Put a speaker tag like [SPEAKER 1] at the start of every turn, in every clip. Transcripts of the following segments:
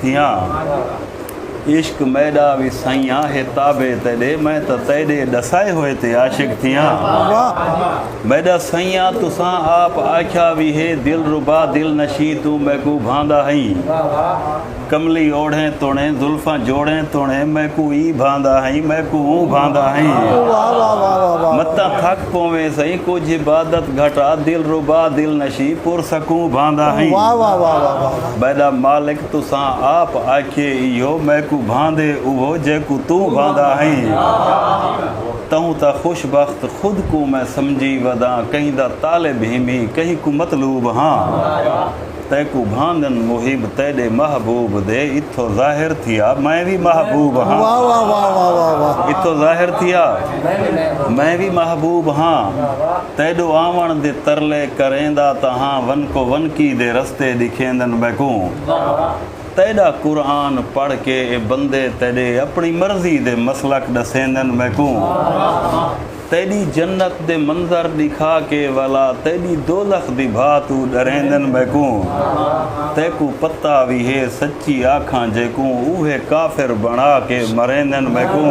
[SPEAKER 1] تھیاں عشق میڈا وی سائیاں ہے تابع تیڈے میں تاں تیڈے ڈسائے ہوئے تے عاشق تھیاں میڈا سائیاں تساں آپ آکھیا وی ہے دل ربا دل نشیں توں میکوں بھاندا ہئیں کملی اوڑھیں توڑیں زلفاں جوڑیں توڑیں میکوں ایں بھاندا ہئیں میکوں اوں بھاندا ہئیں متاں تھک پوویں سئیں کجھ عبادت گھٹا دل ربا دل نشیں پر سکوں بھاندا ہئیں میݙا مالک تساں آپ آکھیے ایہو میکوں بھاندے اوہو جیکوں توں بھاندا ہئیں تہوں تاں خوش بخت خود کوں میں سمجھی وداں کہیں دا طالب ہیمیں کہیں کوں مطلوب ہاں تیکوں بھاندن محب تیݙے محبوب دے اتھو ظاہر تھیا میں وی محبوب ہاں اتھو ظاہر تھیا میں وی محبوب ہاں۔ تیڈو آوݨ دے ترلے کریندا تاں ہاں ونکو ونکی دے رستے ڈکھیندن میکوں تیڈا قرآن پڑھ کے اے بندے تیڈے اپݨی مرضی دے مسلک ڈسیندن میکوں تیڈی جنت دے منظر ڈکھا کے ولا تیڈی دوزخ دی بھا توں ڈریندن میکوں تیکوں پتہ وی ہے سچی آکھاں جیکوں اوہے کافر بݨا کے مریندن میکوں۔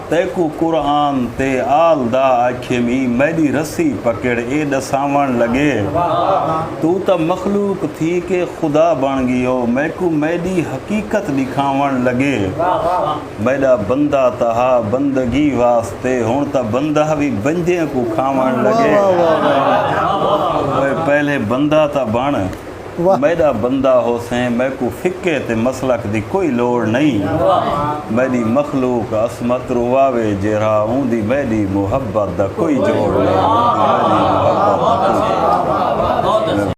[SPEAKER 1] تیکوں قرآن تے آل دا آکھیم ای میڈی رسی پکڑ اے ڈساون لگے توں تاں مخلوق تھی کے خدا بن گیو میکوں میڈی حقیقت ڈکھاون لگے میڈا بندہ تاں ہا بندگی واسطے ہن تاں بندہ وی بنجیں کوں کھاون لگے اوئے پہلے بندہ تاں بن میݙا بندہ ہوسیں میکوں فقہ تے مسلک دی کوئی لوڑ نئیں میݙی مخلوق عصمت رواوے جیرھا اوندی میݙی محبت دا کوئی جوڑ نئیں اوندی میݙی محبت دا کوئی جوڑ نئیں۔